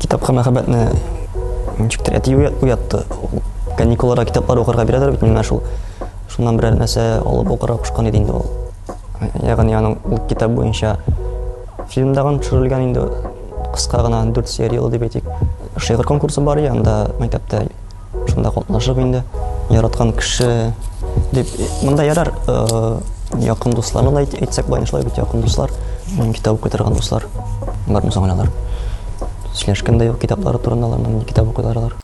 Китапка мәхәббәтне ничектер әти уятты. Каникулларда китаплар укырга бирәләр бит миңа шул. Шуннан берәр нәрсә алып укырга кушкан иде инде ул. Ягъни аның ул китап буенча фильмдагын төшерелгән инде кыска гына 4 сериялы дип әйтик. Шигырь конкурсы бар иде анда мәктәптә. Шунда катнашып инде яраткан кеше дип монда ярар э, якын дусларны да әйтсәк былай шулай бит якын дуслар китап укый торган дуслар бар мусаң алар сөйләшкән дә юк китаплары турында алар нинди китап укыйлар алар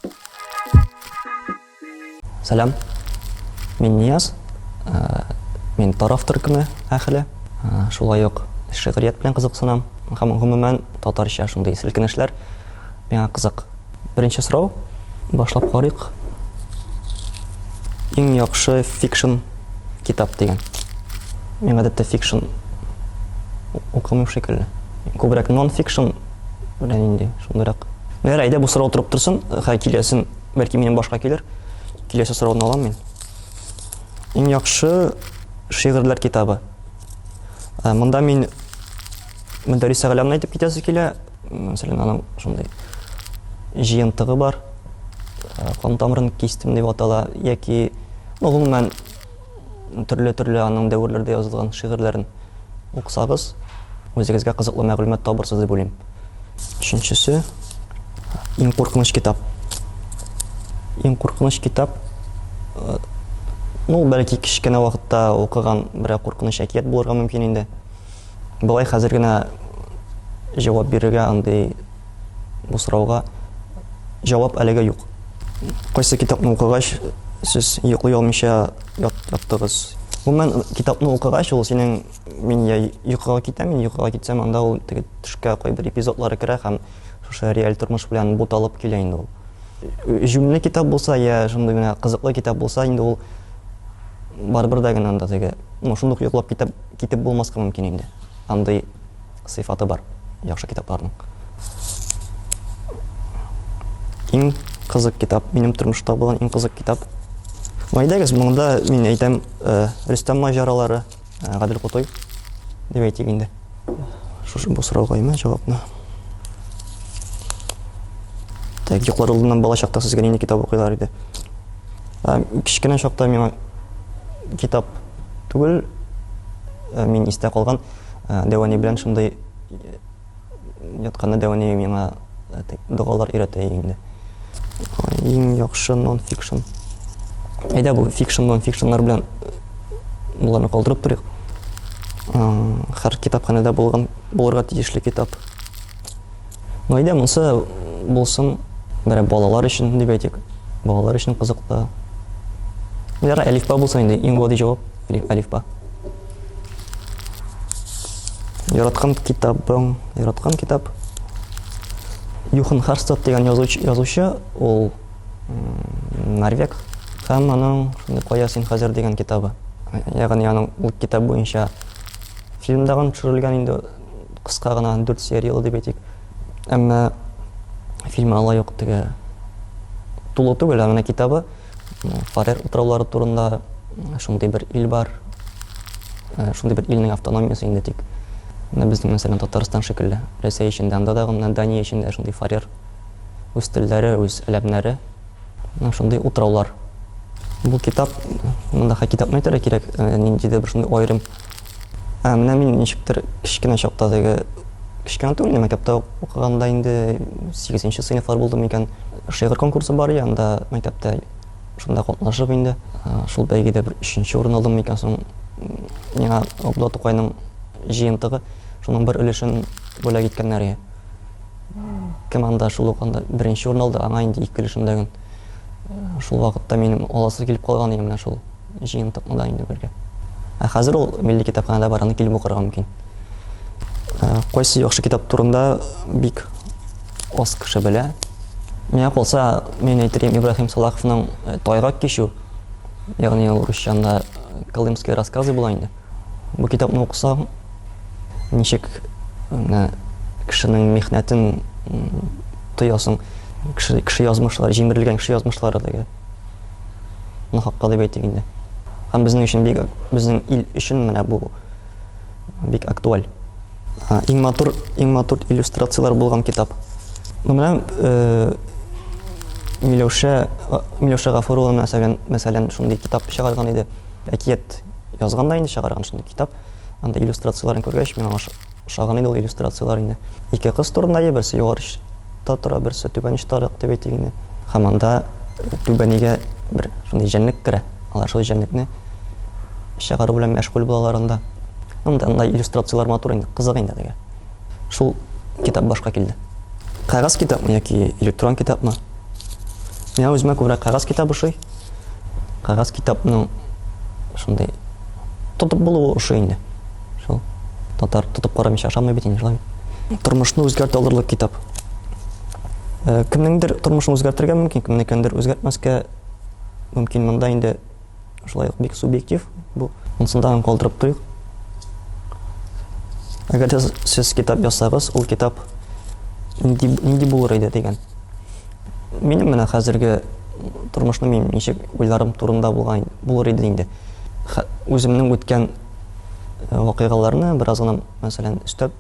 сәлам мин нияз э, мин тараф төркеме әхеле э, шулай ук шигърият белән кызыксынам һәм гомумән татарча шундый селкенешләр миңа кызык Беренче сорау. Башлап карыйк. Иң яхшы фикшн китап дигән. Мин гадәттә фикшн укымыйм шикелле. Күбрәк нон-фикшн белән инде шундыйрак. Мәгәр әйдә бу сорау торып торсын, хәй киләсен, бәлки минем башка килер. Киләсе сорауны алам мин. Иң яхшы шигырьләр китабы. Э, монда мин Мөдәрис Әгълямны әйтеп китәсе килә. мәсәлән, аның шундый җыентыгы бар, э, кан тамырын кистем дип атала, яки, ну, гомумән, төрле-төрле аның дәверләрдә язылган шигырьләрен уксагыз, үзегезгә кызыклы мәгълүмат табырсыз дип уйлыйм. Өченчесе, иң куркыныч китап. Иң куркыныч китап, э, ну, бәлки кечкенә вакытта укыган берәр куркыныч әкият булырга мөмкин инде. Болай хәзер генә җавап бирергә андый бу сорауга җавап әлегә юк. Кайсы китапны укыгач, сез йоклый алмыйча яттыгыз? Гомумән, китапны укыгач, ул синең мин я йокыга китәм, мин йокыга китсәм, анда ул теге төшкә кайбер эпизодлары керә һәм шушы реаль тормыш белән буталып килә инде ул. Җүнле китап булса, я шундый гына кызыклы китап булса, инде ул барыбер дә генә анда теге, ну, шундук йоклап китәп Китеп булмаска мөмкин инде. Андый сыйфаты бар яхшы китапларның. Иң кызык китап, минем тормышта булган иң кызык китап. Мәйдәгез, монда мин әйтәм, э, Рөстәм маҗаралары, э, Гадел Кутой дип әйтик инде. Шушы бу сорауга имә җавапны. Так, юклар алдыннан бала чакта сезгә нинди китап укыйлар иде? Кичкенә чакта миңа китап түгел. Э, мин истә калган э, Дәвани белән шундый э, ятканда Дәвани миңа догалар өйрәтә инде. Иң яхшы нон-фикшн. Әйдә бу фикшн нон-фикшннар белән буларны калдырып торыйк. Хәр китапханәдә булган булырга тиешле китап. Гаилә монсы булсын, бәрә балалар өчен дип әйтик. Балалар өчен кызыклы. Ярар, әлифба булсын инде, иң гади җавап, әлифба. Яраткан китабың, яраткан китап. Юхан Харстад дигән язучы, язучы ул Норвег һәм аның шундый кая син хәзер дигән китабы. Ягъни аның ул китап буенча фильм дагын төшерелгән инде кыска гына дүрт серияле дип әйтик. Әмма фильмы алай ук теге тулы түгел, ә менә китабы Фарер утраулары турында шундый бер ил бар. Э, шундый бер илнең автономиясе инде тик. Менә безнең мәсәлән Татарстан шикелле. Рәсәй эчендә, анда да гына Дания эчендә шундый Фарер үз телләре, үз әләмнәре. Менә шундый утраулар. Бу китап, монда китапны әйтергә кирәк, э, ниндидер бер шундый аерым Ә менә мин ничектер кечкенә чакта теге кечкенә түгел, инде мәктәптә укыганда инде 8 нче сыйныфлар булдымы икән, шигырь конкурсы бар иде анда мәктәптә, шунда катнашып инде, шул бәйгедә бер өченче урын алдымы икән соң, миңа Габдулла Тукайның җыентыгы, шуның бер өлешен бүләк иткәннәр иде. Кем анда шул ук анда беренче урын алды, аңа инде ике өлешен бүләген. Шул вакытта минем аласы килеп калган иде менә шул. Җыентыкны да инде бергә. Ә хәзер ул милли китапханәдә бар, аны килеп укырга мөмкин. Кайсы яхшы китап турында бик аз кеше белә. Миңа калса, мин әйтергәм Ибраһим Салаховның э, Тайгак кичү, ягъни ул русчанда э, Колымские рассказы була инде. Бу китапны укысаң, ничек менә кешенең михнәтен тоясың, кеше, кеше язмышлары, җимерелгән кеше язмышлары дигән. Ни хакта дип әйтик инде. Һәм безнең өчен бик, безнең ил өчен менә бу бик актуаль. Иң матур, иң матур иллюстрацияләр булган китап. Ну менә э, Миләүшә, Миләүшә Гафурова мәсәлән, мәсәлән, шундый китап чыгарган иде. Әкият язган да инде чыгарган шундый китап. Анда иллюстрацияләрен күргәч, миңа Ошаган иде ул иллюстрацияләр инде. Ике кыз турында е берсе югары очта тора, берсе түбән очтарак дип әйтик инде. Һәм анда түбәнигә бер шундый җәнлек керә. Алар шул җәнлекне чыгару белән мәшгуль булалар анда. Анда анда иллюстрацияләр матур инде, кызык инде дигән. Шул китап башка килде. Кагаз китапмы яки электрон китапмы? Миңа үземә күбрәк кагаз китабы ошый. Кагаз китапның шундый тотып булуы ошый инде. Шул. Татар тотып карамыйча ашамый бит инде шулай. Тормышны үзгәртә алырлык китап. Э, кемнеңдер тормышын үзгәртергә мөмкин, кемнекендер үзгәртмәскә мөмкин. Монда инде шулай ук бик субъектив бу. Монсын да калдырып торыйк. Әгәр дә сез китап язсагыз, ул китап нинди нинди булыр иде дигән. Минем менә хәзерге тормышны мин ничек уйларым турында булган булыр иде инде. Үземнең үткән вакыйгаларны бераз гына, мәсәлән, өстәп,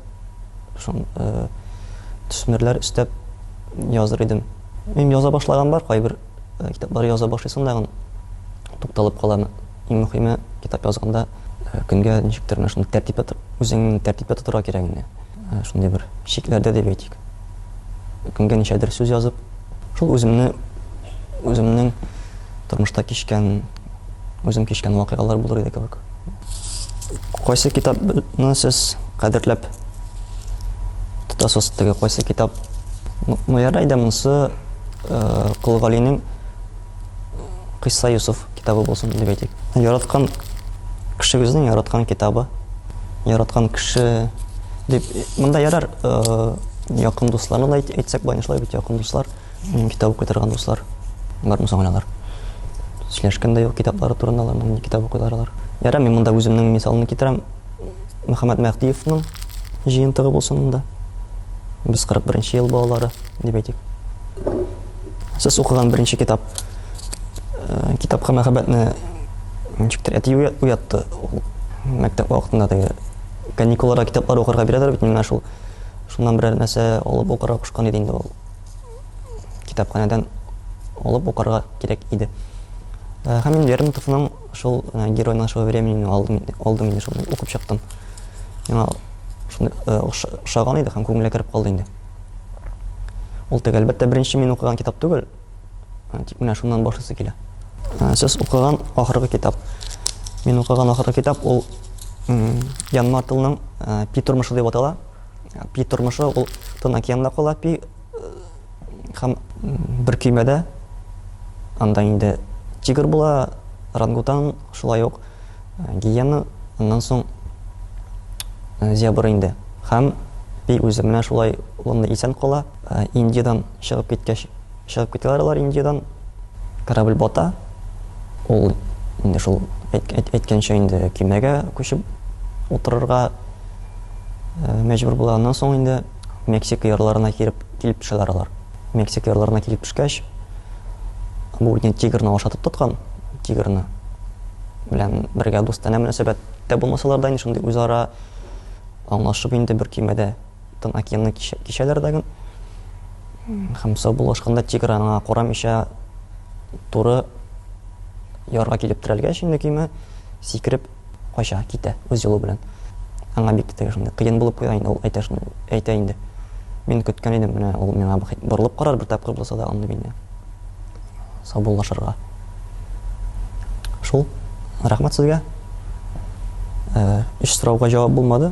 шун э, төсмерләр өстәп языр идем. Мин яза башлаган бар, кайбер э, китаплар яза башлыйсың да, тукталып калам. Иң мөһиме, китап язганда э, көнгә ничектер менә шундый тәртипкә үзеңне тәртипкә тотырга кирәк инде. Э, шундый бер шикләрдә дип әйтик. Көнгә ничәдер сүз язып, шул үземне үземнең тормышта кичкән үзем кичкән вакыйгалар булыр иде кебек. Кайсы китапны сез кадерләп тотасыз? Теге кайсы китап? Ну, ярай да монысы э, Кол Галинең Кыйса Юсуф китабы булсын дип әйтик. Яраткан кешегезнең яраткан китабы, яраткан кеше дип монда ярар, э, якын дусларны да әйтсәк, бай нишләп бит якын дуслар. Китап укый торган дуслар бармы соң алар? Сөйләшкән дә юк китаплары турында аларның ни китап укыйлар алар. Ярар, мин монда үземнең мисалны китерәм. Мөхәммәд Мәһдиевның җыентыгы булсын монда. Без 41 нче ел балалары дип әйтик. Сез укыган беренче китап э, китапка мәхәббәтне ничектер әти уятты. Мәктәп вакытында теге каникулларда китаплар укырга бирәләр бит менә шул. Шуннан берәр нәрсә алып укырга кушкан иде инде ул. китапханәдән алып укырга кирәк иде. Э, һәм мин Лермонтовның шул э, герой нашего времени алдым, алдым инде шуны укып чыктым. Миңа шуны э, ошаган иде һәм күңелгә кереп калды инде. Ул теге әлбәттә беренче мин укыган китап түгел, тик менә шуннан башлысы килә. Сез укыган ахыргы китап. Мин укыган ахыргы китап ул Ян Мартылның Пи тормышы дип атала. Пи тормышы ул Тын океанда кала пи һәм бер көймәдә анда инде тигр була, рангутан, шулай ук гиена, аннан соң зебр инде. Һәм пи үзе менә шулай улымны исән кала, Индиядән чыгып киткәч, Чыгып китәләр алар Индиядән. Корабль бата. Ул инде шул әйткәнчә инде көймәгә күчеп утырырга мәҗбүр була. Аннан соң инде Мексика ярларына килеп килеп төшәләр алар. Мексика ярларына килеп төшкәч, бу инде тигрны ашатып тоткан, тигрны белән бергә дустанә мөнәсәбәттә булмасалар да, инде шундый үзара аңлашып инде бер көймәдә тын океанны кичәләр дә гын. Һәм сау булышканда тигр аңа карамыйча туры ярга килеп терәлгәч инде көймә сикереп кача, китә үз юлы белән. Аңа бик тә шундый кыен булып куя инде ул әйтә шуны, әйтә инде. Мин көткән идем, менә ул миңа борылып карар бер тапкыр булса да аны мине саубуллашырга. Шул, рәхмәт сезгә. Э, өч сорауга җавап булмады.